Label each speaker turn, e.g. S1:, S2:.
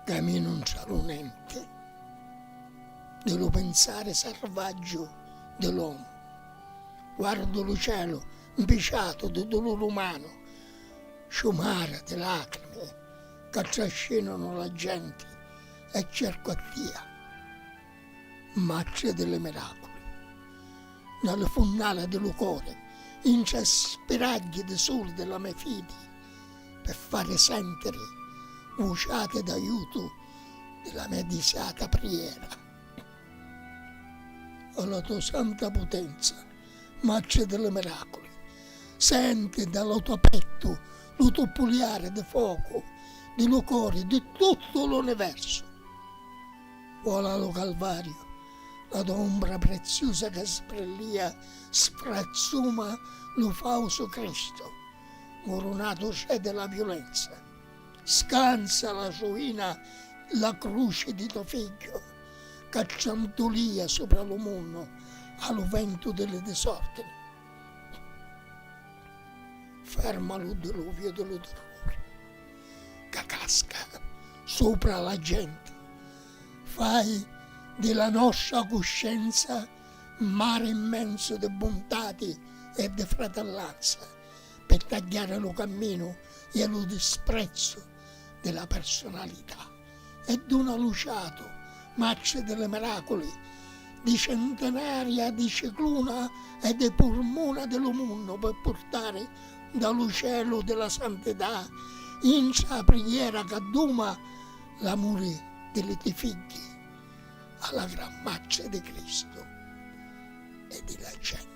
S1: Ca mi nun saru nenti di lu pinsari sarvaggiu di l'omu, guardu lu celu 'mpiciatu di duluri umanu, sciumari di lacrimi ca trascinanu la genti E cercu a tia, Matri di li miraculi, nna li funnali di lu cori, intra spiragghi di suli di la me fidi, pi fari sentiri vuciati d'aiutu di la me disiata priera. O la tua santa putenza, Matri di li miraculi, senti nta lu to pettu lu tuppuliari di focu di lu cori di tuttu l'universu. Vola a lu Calvariu, la to umbra preziusa ca sbrillìa sfrazzuma lu fausu Cristu, murunatu cedi la viulenza. Scanza la suina la cruci di to figghiu, ca trantulia supra lu munnu a lu ventu di li disordini. Ferma lu diluviu di lu terruri ca casca supra la genti. Fai di la nostra cuscenza mari immensu di buntati e di fratellanza. pe tagghiari lu camminu e lu disprezzu di la personalità e duna lu ciatu, matri di li miraculi, di centinaria di cicluna e di purmuna di lu munnu pe purtari nta lu celu di la santità intra a prighera ca duma l'amuri di li ti figghi a la Gran Matri di Cristu e di la genti.